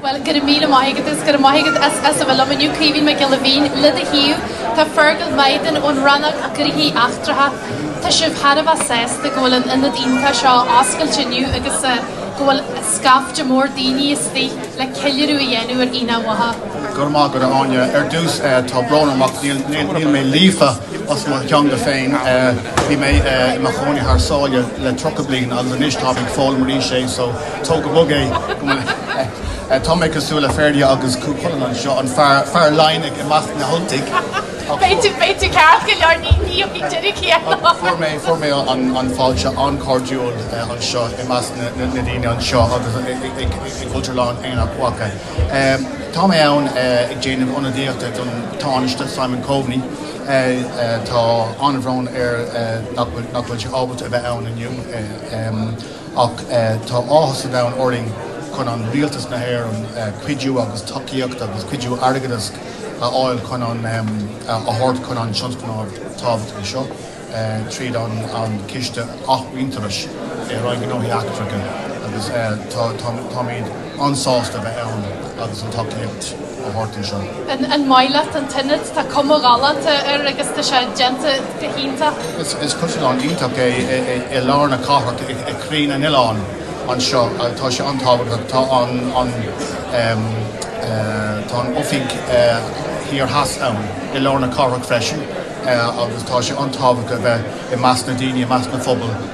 Bhuel, go raibh míle maith agat agus go raibh maith agat as as a bheith liom inniu, Caoimhín Mac Giolla Mhín, le do thaobh. Tá Fergal Mythen ón rannóg Gnóthaí Eachtracha. Tá sibh thar a bheith sásta go bhfuil an ionad iontach seo oscailte inniu agus go bhfuil scaifte mór daoine istigh le ceiliúradh a dhéanamh ar Aonach Mhacha. Go raibh maith agat, a Áine. Ar dtús, tá brón orm ach níl mé líofa as mo theanga féin. Bhí mé i mo chónaí thar sáile le tríocha bliain agus anois tá mé ag foghlaim arís é. Tóg go bog é. Tá mé cosúil le Ferdia agus Cú Chulainn anseo, an fear, fear Laighnigh i measc na hUltaigh. Ach fuair. B'fhéidir, b'fhéidir ceart go leor, ní, ní bheidh an deireadh céanna. Ach fuair mé, fuair mé an, an fáilte an-chairdiúil anseo i measc na, na, na ndaoine anseo agus ag, ag, ag, ag Cultúrlann Aonach Mhacha. Ehm, tá mé ann ag déanamh ionadaíochta don Tánaiste, Simon Coveney. Tá an-bhrón air nach bhfuil, nach bhfuil sé ábalta a bheith ann inniu. Ehm. Ach tá áthas an domhain orainn chun an Rialtas na hÉireann cuidiú agus tacaíocht agus cuidiú airgeadais a fháil chun an a thabhairt chun an tionscnamh tábhachtach seo tríd an an Ciste Athmhuintearais i Roinn Gnóthaí Eachtracha agus táimid an-sásta a bheith ann agus an tacaíocht a thabhairt anseo. An maith leat an t-ionad? Tá cuma ghalánta air agus tá sé déanta go hiontach. Is cultúrlann iontach é i lár na cathrach i gcroí an oileáin anseo. Tá sé an-tábhachtach. Tá an Tá an oifig thiar theas ann i lár na cathrach freisin agus tá sé an-tábhachtach a bheith i measc na daoine, i measc an phobail.